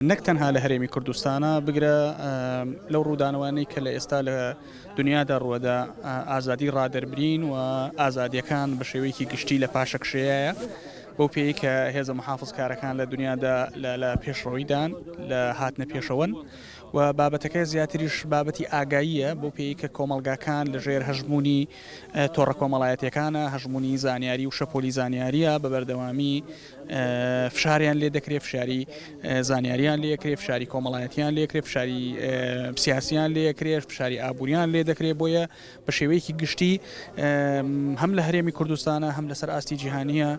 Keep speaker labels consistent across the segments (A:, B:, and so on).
A: نەک تەنها لە هەرێمی کوردستانا، بگرە لەو ڕوودانەوانەی کە لە ئێستا لە دنیادا ڕووەدا، ئازادی ڕادەربرین و ئازادییەکان بە شێوەیەکی گشتی لە پاشەکشێیایە، بەو پێیەی کە هێزە محافزکارەکان لە دنیادا لە پێشڕەویدان، لە هاتنە پێشەوەن و بابەتەکە زیاتریش بابەتی ئاگاییە، بەو پێیەی کە کۆمەڵگاکان لە ژێر هەژموونی تۆڕە کۆمەڵایەتییەکانە، هەژموونی زانیاری و شەپۆلی زانیارییە بە بەردەوامی، فشاریان لێ دەکرێت فشاری زانیاریان لەکرێ فشاری کۆمەڵایەتیان لەکرێ فشاری سیاسیان لەکرێت فشاری ئابوووریان لێ دەکرێت بۆیە بە شێوەیەکی گشتی هەم لە هەرێمی کوردستانە هەم لەسەر ئاستی جیهانیە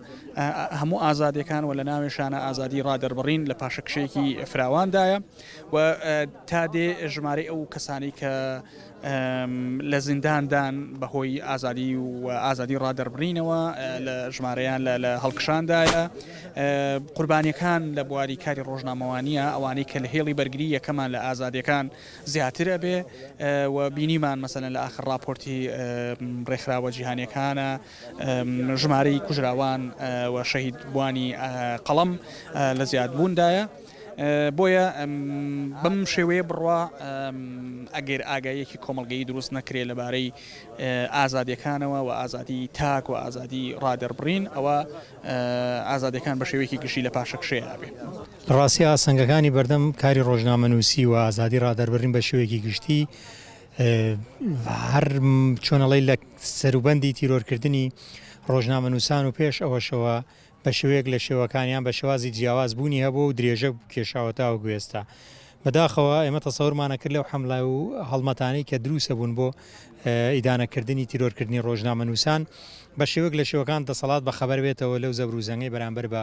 A: هەموو ئازادەکان و لە ناوێشانە ئازادی ڕادەربڕین لە پاشەکشێکی فراواندایە و تا دێ ژمارە ئەو کەسانی کە لە زیندان دان بە هۆی ئازادی و ئازادی ڕادەربڕینەوە لە ژمارەیان لە هەڵکشاندایە قوربانیەکان لە بواری کاری ڕۆژنامەوانیە ئەوانەی کە لە هێڵی بەرگری یەکەمان لە ئازادیەکان زیاترە بێ و بینیمان مەسەن لە ئاخر راپۆرتی ڕێکخراوە جیهانەکانە ژمارەی کوژراوان و شەهید بووانی قەڵەم لە زیاد بوون دایە، بۆیە بەم شێوەیە بڕوا ئەگەر ئاگاییەکی کۆمەڵگەیی دروست نەکرێ لە بارەی ئازادیەکانەوە و ئازادی تاک و ئازادی ڕادەربڕین ئەوە ئازادیەکان بە شێوەیەکی گشتی لە پاشەکشێ ئەبێ. لە ڕاستی
B: ئاستەنگەکانی بەردەم کاری ڕۆژنامەنووسی و ئازادی ڕادەربڕین بە شێوەیەکی گشتی هەر چۆن ئەڵێی لە سەروبەندی تیرۆرکردنی ڕۆژنامەنووسان و پێش ئەوەشەوە بە شێوەیەک لە شێوەکانیان بە شێوازی جیاواز بوونی هەبوو و درێژە کێشاوەتا و گوێستا بەداخەوە ئێمە تەسەورمانە کرد لەو حملە و هەڵمەتانی کە دروسە بوون بۆ ئیدانەکردنی تیرۆرکردنی ڕۆژنامەنووسان بە شێوەک لە شێوەکان دەسەڵات بە خەبەر بێتەوە لەو زەبروزەنگی بەرامبەر بە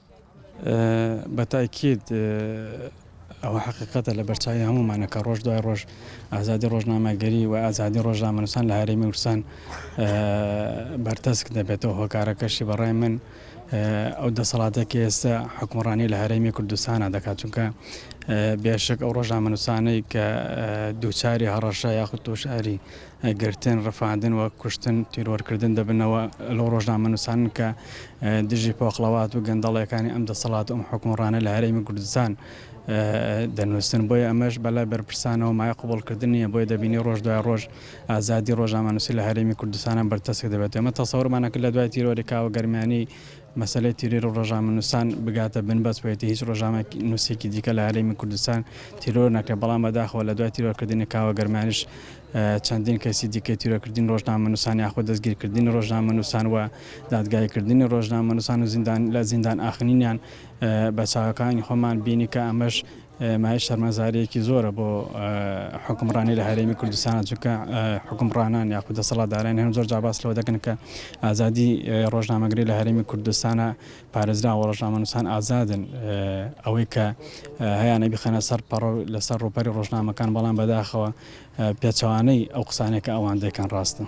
B: بە
C: تاکید ئەوە حەقیقەتە لە بەرچاوی هەموومانە کە ڕۆژ دوای ڕۆژ ئازادی ڕۆژنامەگەری و ئازادی ڕۆژنامەنووسان لە هەرێمی ورسان بەرتەسک دەبێتەوە هۆکارەکەشی بەڕای من ئەو دەسەڵاتە کە ئێستا حکومڕانی لە هەرێمی کوردستانە دەکات چونکە بێشک ئەو ڕۆژنامەنووسانەی کە دووچاری هەڕەشە یاخود تۆشاری گرتن، ڕفاندن و کوشتن، تیرۆرکردن دەبنەوە لەو ڕۆژنامەنووسانن کە دژی پۆخڵەوات و گەندەڵیەکانی ئەم دەسەڵات و ئەم حوکمڕانە لە هەرێمی کوردستان دەنووسن بۆیە ئەمەش بەلای بەرپرسانەوە مای قوبڵکردن نیە بۆیە دەبینی ڕۆژ دوای ڕۆژ ئازادی ڕۆژامانوسی لە هەرێمی کوردستانە بەرتەسک دەبێت ئەمە تەسەورمانەکرد لە دوای تیرۆری کاوە گەرمیانی مەسەلەی تیرۆر و ڕۆژنامەنووسان بگاتە بن بەس و هێتی هیچ ڕۆژنامەنووسێکی دیکە لە هەرێمی کوردستان تیرۆر نەکرێت، بەڵام بەداخەوە لە دوای تیرۆرکردنی کاوە گەرمیانیش چەندین کەیسی دیکەی تیرۆرکردنی ڕۆژنامەنووسان یاخود دەستگیرکردنی ڕۆژنامەنووسان و دادگاییکردنی ڕۆژنامەنووسان و لە زیندان ئاخنینیان بە چاوەکانی خۆمان بینی کە ئەمەش مایەی شەرمەزاریەکی زۆرە بۆ حوکمڕانی لە هەرێمی کوردستانە چونکە حوکمڕانان یاخود دەسەڵاتداران هەم زۆر جا باس لەوە دەکەن کە ئازادی ڕۆژنامەگری لە هەرێمی کوردستانە پارێزراوە ڕۆژنامەنووسان ئازادن ئەوەی کە هەیانە بخەنە سەر پەڕۆ لەسەر ڕوپەری ڕۆژنامەکان بەڵام بەداخەوە پێچوانەی ئەو قسانێکە ئەوان دەکەن ڕاستن.